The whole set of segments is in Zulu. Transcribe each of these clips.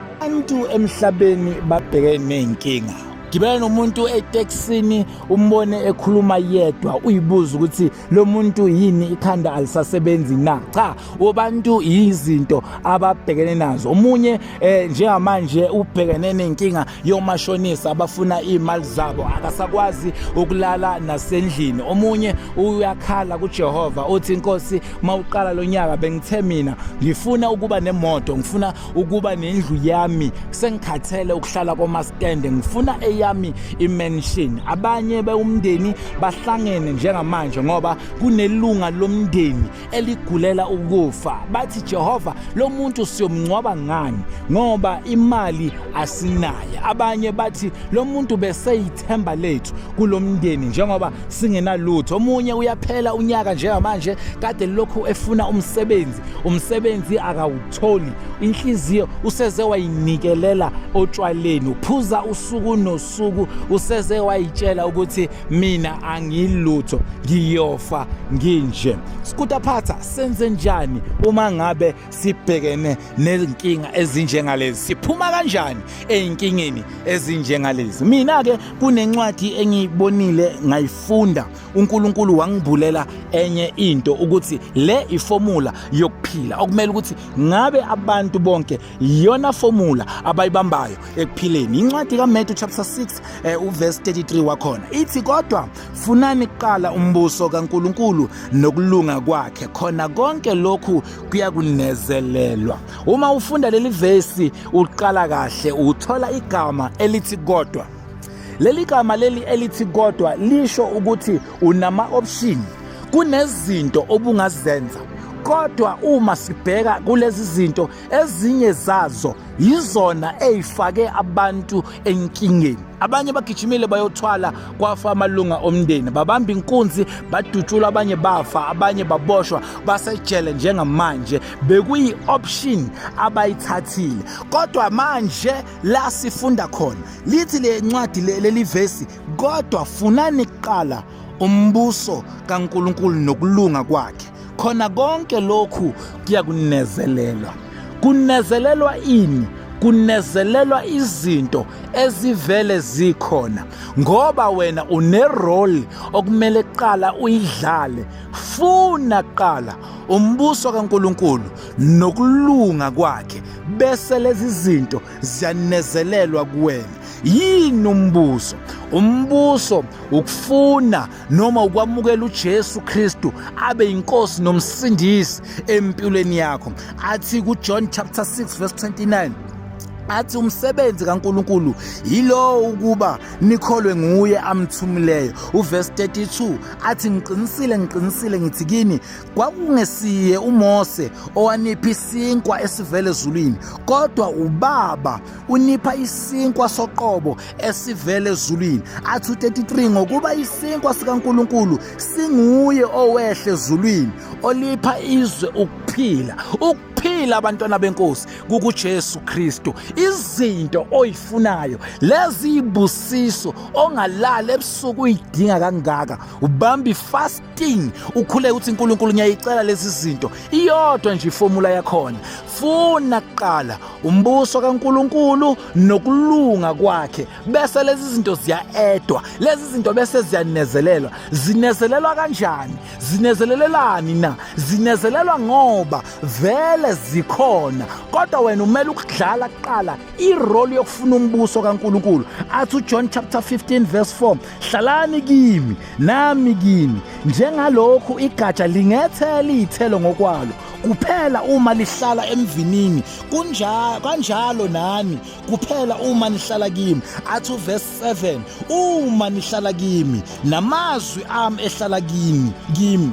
Abantu emhlabeni babheke nezinkinga. Gibela nomuntu eTexini umbone ekhuluma yedwa uyibuza ukuthi lo muntu yini ikhanda alisasebenzi na. Cha, obantu yizinto ababhekene nazo. Omunye eh, njengamanje ubhekene nenkinga yomashonisa abafuna imali zabo akasakwazi ukulala nasendlini. Omunye uyakhala kuJehova uthi inkosi mawuqala lonyaka bengithe mina ngifuna ukuba nemoto ngifuna ukuba nendlu yami sengikhathele ukuhlala komaskende ngifuna eyami imansion abanye bewumndeni bahlangene njengamanje ngoba kunelunga lomndeni eligulela ukufa bathi Jehova lo muntu siyomngcwaba ngani ngoba imali asinayo abanye bathi lo muntu beseyithemba lethu kulomndeni njengoba singenalutho omunye uyaphela unyaka njengamanje kade lokhu efuna umsebenzi umsebenzi akawu Tholi inhliziyo useze wayinikelela otshwaleni uphuza usuku nosuku useze wayitshela ukuthi mina angilutho ngiyofa nginje Skuta Phatha senze njani uma ngabe sibhekene nezinkinga ezinjengalezi siphuma kanjani ezinkingeni ezinjengalezi mina ke kunencwadi engiyibonile ngayifunda uNkulunkulu wangibhulela enye into ukuthi le ifomula yokuphila okumele ukuthi ngabe abantu bonke iyona fomula abayibambayo ekuphileni incwadi kaMatthew chapter 6 eh, uverse 33 wakhona ithi kodwa funani kuqala umbuso kaNkulunkulu nokulunga kwakhe khona konke lokhu kuyakunezelelwa uma ufunda leli verse uqala kahle uthola igama elithi kodwa Leli gama leli elithi kodwa lisho ukuthi unama option kunezinto obungazenza kodwa uma sibheka kulezi zinto ezinye zazo yizona ezifake abantu enkingeni abanye bagijimile bayothwala kwafa amalunga omndeni babamba inkunzi badutshula abanye bafa abanye baboshwa basejele njengamanje bekuyi-option abayithathile kodwa manje la sifunda khona lithi le ncwadi leli vesi kodwa funani kuqala umbuso kaNkuluNkulu nokulunga kwakhe khona konke lokhu kuya kunezelelwa kunezelelwa ini kunezelelwa izinto ezivele zikhona ngoba wena unerole okumele kuqala uyidlale funa kuqala umbuso kaNkuluNkulu nokulunga kwakhe bese lezi zinto ziyanezelelwa kuwena yini umbuso umbuso ukufuna noma ukwamukela uJesu Kristu abe inkosi nomsindisi empilweni yakho athi kuJohn chapter 6 verse 29 athi umsebenzi kaNkuluNkulu yilowo ukuba nikholwe nguye amthumileyo uverse 32 athi ngiqinisile ngiqinisile ngithi kini kwakungesiye uMose owanipha isinkwa esivele ezulwini kodwa ubaba unipha isinkwa soqobo esivele ezulwini athi u-33 ngokuba isinkwa sikaNkuluNkulu singuye owehle ezulwini olipha izwe ukuphila ukuphila abantwana benkosi kukuJesu Kristu izinto oyifunayo lezi ibusiso ongalala ebusuku uyidinga kangaka ubambi fast ting ukhule uthi uNkulunkulu ngiyayicela lezi zinto iyodwa nje iformula yakhona funa kuqala umbuso kaNkuluNkulu nokulunga kwakhe bese lezi zinto ziyaedwa lezi zinto bese ziyanezelelwa zinezelelwa kanjani zinezelelelani na zinezelelwa ngoba vele zikhona kodwa wena umele ukudlala kuqala irole yokufuna umbuso kaNkuluNkulu athi uJohn chapter 15 verse 4 hlalani kimi Nami kini njengalokhu igatsha lingethela izithelo ngokwalo kuphela uma lihlala emvinini kunjalo kanjalo nani kuphela uma nihlala kimi athu verse 7 uma nihlala kimi namazwi ami ehlala kimi kimi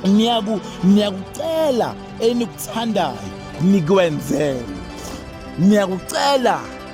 niyaku niyakucela enikuthandayo nikwenzele niyakucela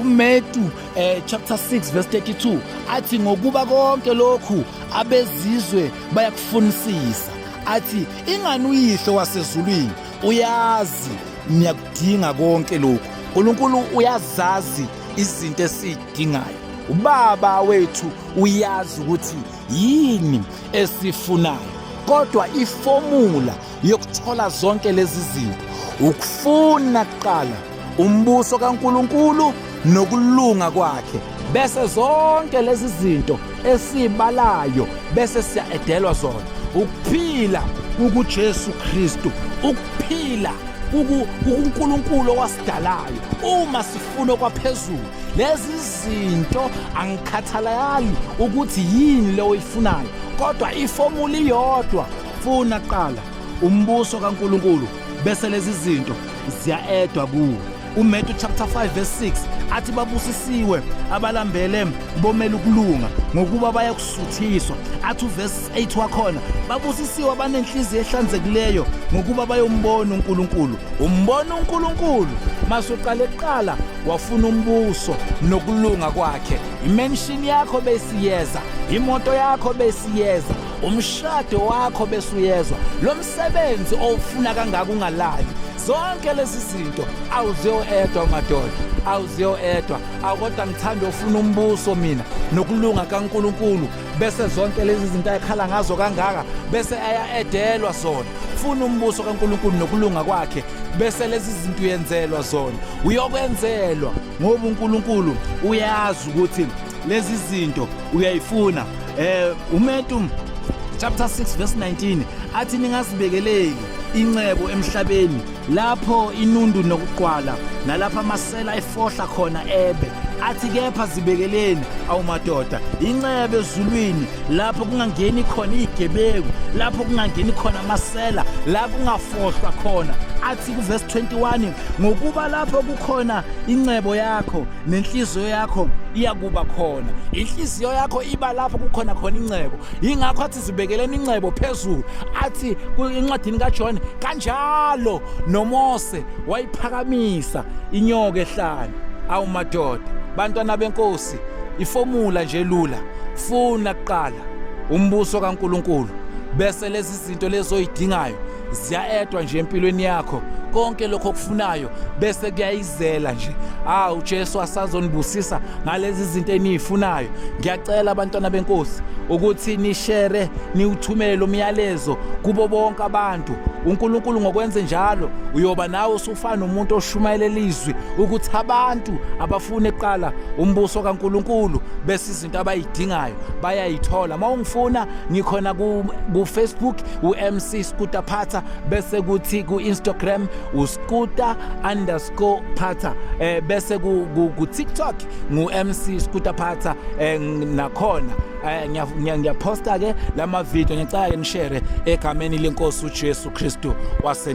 uMetu eh, chapter 6 verse 32 athi ngokuba konke lokhu abezizwe bayakufunisisa athi ingani uyihlo wasezulwini uyazi niyakudinga konke lokhu uNkulunkulu uyazazi izinto esidingayo ubaba wethu uyazi ukuthi yini esifunayo kodwa ifomula yokuthola zonke lezi zinto ukufuna kuqala umbuso kaNkuluNkulu nokulunga kwakhe bese zonke lezi zinto esibalayo bese siyaedelwa zona ukuphila ukuJesu Kristu ukuphila uNkulunkulu owasidalayo uma sifuna kwaphezulu lezi zinto angikhathalali ukuthi yini leyo oyifunayo kodwa ifomula iyodwa Funa kuqala umbuso kaNkuluNkulu bese lezi zinto ziyaedwa kuwe. UMatthew chapter 5 verse 6 athi babusisiwe abalambele bomela ukulunga ngokuba bayakusuthiswa. Athi uverse 8 wakhona babusisiwe abanenhliziyo ehlanzekileyo ngokuba bayombona uNkulunkulu. Umbona uNkulunkulu masuqale kuqala wafuna umbuso nokulunga kwakhe. Imension yakho besiyeza, imoto yakho besiyeza umshado wakho bese uyezwa lo msebenzi owufuna kangaka ungalali zonke lezi zinto awuziyoedwa madoda awuziyoedwa akodwa ngithanda ofuna umbuso mina nokulunga kaNkuluNkulu bese zonke lezi zinto ayikhala ngazo kangaka bese ayaedelwa zona funa umbuso kaNkuluNkulu nokulunga kwakhe bese lezi zinto uyenzelwa zona uyokwenzelwa ngoba uNkuluNkulu uyazi ukuthi lezi zinto uyayifuna Eh uMetum chapter 6 verse 19 athi ningazibekeleki incebo emhlabeni lapho inundu nokuqwala nalapha amasela efohla khona ebe athi kepha zibekeleni awumadoda incebe ezulwini lapho kungangeni khona igebeku lapho kungangeni khona amasela lapho kungafohlwa khona athi kuverse 21 ngokuba lapho kukhona incebo yakho nenhliziyo yakho iyakuba khona inhliziyo yakho iba lapho kukhona khona incebo yingakho athi zibekeleni incebo phezulu athi encwadini kaJohn kanjalo noMose wayiphakamisa inyoka ehlane awu madoda bantwana benkosi ifomula nje lula funa kuqala umbuso kaNkuluNkulu bese lezi zinto lezoyidingayo ziyaedwa nje empilweni yakho konke lokho okufunayo bese kuyayizela nje ah uJesu asazonibusisa ngalezi zinto eniyifunayo ngiyacela abantwana benkosi ukuthi nishere niwuthumele umyalezo kubo bonke abantu uNkulunkulu ngokwenze njalo uyoba nawe usufana umuntu oshumayela ilizwi ukuthi abantu abafune kuqala umbuso kaNkulunkulu bese into abayidingayo bayayithola uma ungifuna ngikhona kufacebook u-mc scooter phatha bese kuthi ku-instagram uscooter underscore phatha um eh, bese kutiktok ngu-mc scooter phatha um eh, nakhona eh, ngiyaphosta-ke la mavidiyo ngicake nishere egameni lenkosi ujesu kristu wasena